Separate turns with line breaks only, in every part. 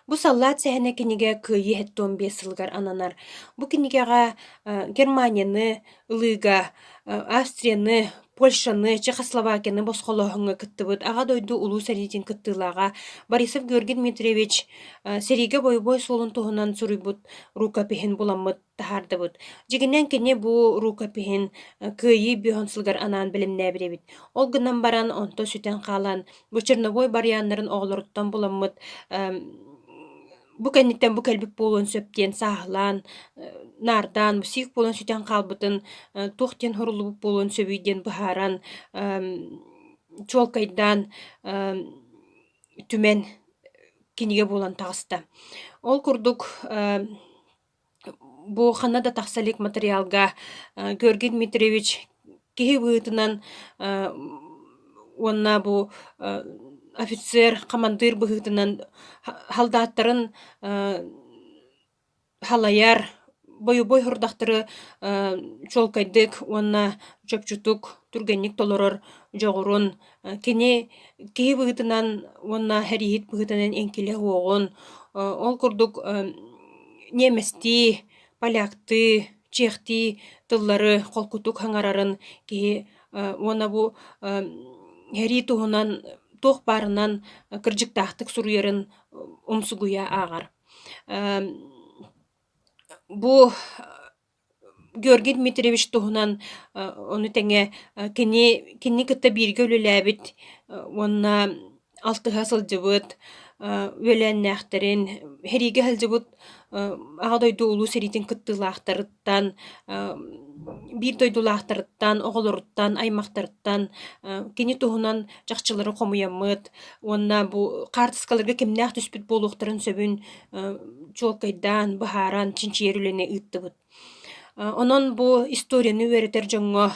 Бу саллаат сэһэнэ кинигэ Кыайыы сэттэ уон биэс сылыгар ананар. Бу кинигэҕэ, э, Германияны ылыыга, э, Австрияны, Польшаны, Чехословакияны босхолооһуҥҥа кыттыбыт Аҕа дойду Улуу сэриитин кыттыылааҕа Борисов Георгий Дмитриевич, э, сэриигэ бойобуой суолун туһунан суруйбут рукопиһын буламмыт. Таһаардыбыт. Дьигинэн кини бу рукопиһын, э, Кыайыы бюһун сылыгар анаан бэлэмнээбит эбит. Ол гынан баран онто сүтэн хаалан, бу черновой барыйааннарын оҕолоруттан буламмыт, эм, бу кэнниттэн бу кэлбит буолуон сөп диэн сааһылаан, э, наардаан, сиик буолан сүтэн хаалбытын, э, туох диэн хоруллубут буолуон сөбүй диэн быһааран, эм, чуолкайдаан, эм, түмэн кинигэ буолан таҕыста. Ол курдук, эм, Бу ханна да тахса илик матырыйаалга, э, Георгий Дмитриевич киһи быһыытынан, э, уонна бу, э, офицер, хамандыыр быһыытынан ха халдааттарын, э, халайар, бойобуой сорудахтары, э, чуолкайдык уонна чопчутук, түргэнник толорор дьоҕурун, Кини киһи быһыытынан уонна хэрииһит быһыытынан инкилэ-уоҕун, ол курдук ниэмэстии, поляктыы, чехтии тыллары холкутук хаҥарарын киһи уонна бу хэрии туһунан туох баарынан кырдьыктаахтык суруйарын умсугуйа ааҕар. Бу Георгий Дмитриевич туһунан ону тэҥэ кини кини кытта бииргэ үлэлээбит уонна алтыһа сылдьыбыт үөлээннээхтэрин, сэриигэ сылдьыбыт Аҕа дойду Улуу сэриитин кыттыылаахтарыттан, биир дойдулаахтарыттан, оҕолоруттан, аймахтарыттан кини туһунан чахчылары хомуйаммыт уонна бу хаартыскаларга кимнээх түспүт буолуохтарын сөбүн чуолкайдаан, быһааран чинчийэр үлэни ыыттыбыт. Онон бу историяны үөрэтэр дьоҥҥо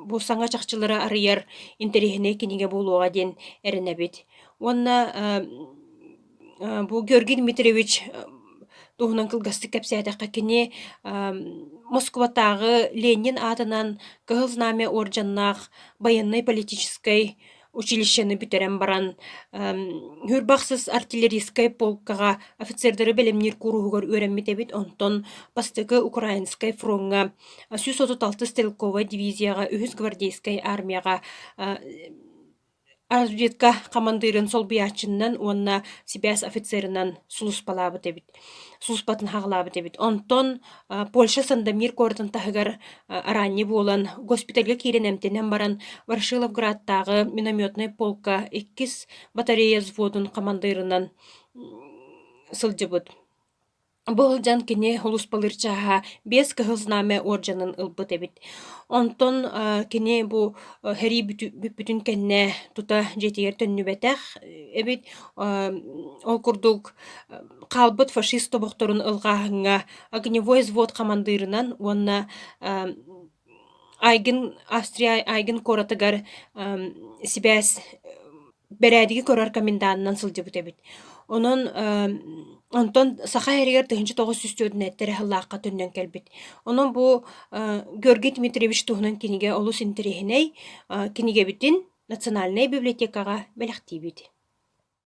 бу саҥа чахчылары арыйар интэриэһинэй кинигэ буолуоҕа диэн эрэнэбит. Уонна бу Георгий Дмитриевич туһунан кылгастык кэпсээтэххэ кини Москубатааҕы Ленин аатынан Кыһыл Знамя уордьаннаах байыаннай-политическай училищены бүтэрэн баран үһүр бахсыс артиллерийскай полкаҕа офицердары бэлэмниир кууруһугар үөрэммит эбит онтон бастакы украинскай фроҥҥа сүүс отут алтыс стрелковай дивизияҕа үһүс гвардейскай армияҕа разведка хамандыырын солбуйааччыннан уонна сибээс офицерынан сулуспалаабыт эбит сууспатын хаалаабыт эбит. Онтон Польша Сандомир куоратын таһыгар араанньы буолан госпитальга киирэн эмтэнэн баран Ворошиловградтааҕы минометнай полка иккис батарея взводун хамандыырынан сылдьыбыт. Бу сылдьан кини улус былыр чааһа биэс кыһыл знамя орденын ылбыт эбит. Онтон кини бу сэрии бүппүтүн кэннэ тута дьиэтигэр төннүбэтэх эбит. Ол курдук хаалбыт фашист тобохторун ылҕааһыҥҥа огневой взвод хамандыырынан уонна Айгын Австрия Айгын куоратыгар сибээс бэрээдэги көрөр комендантынан сылдьыбыт эбит. Онон онтон Саха эригэр тыһыынча тоҕус сүүс түөртүнэттэ эрэ сыллаахха төннөн кэлбит. Онон бу Георгий Дмитриевич туһунан кинигэ олус интэриэһинэй кинигэбитин Национальнай библиотекаҕа бэлэхтиибит.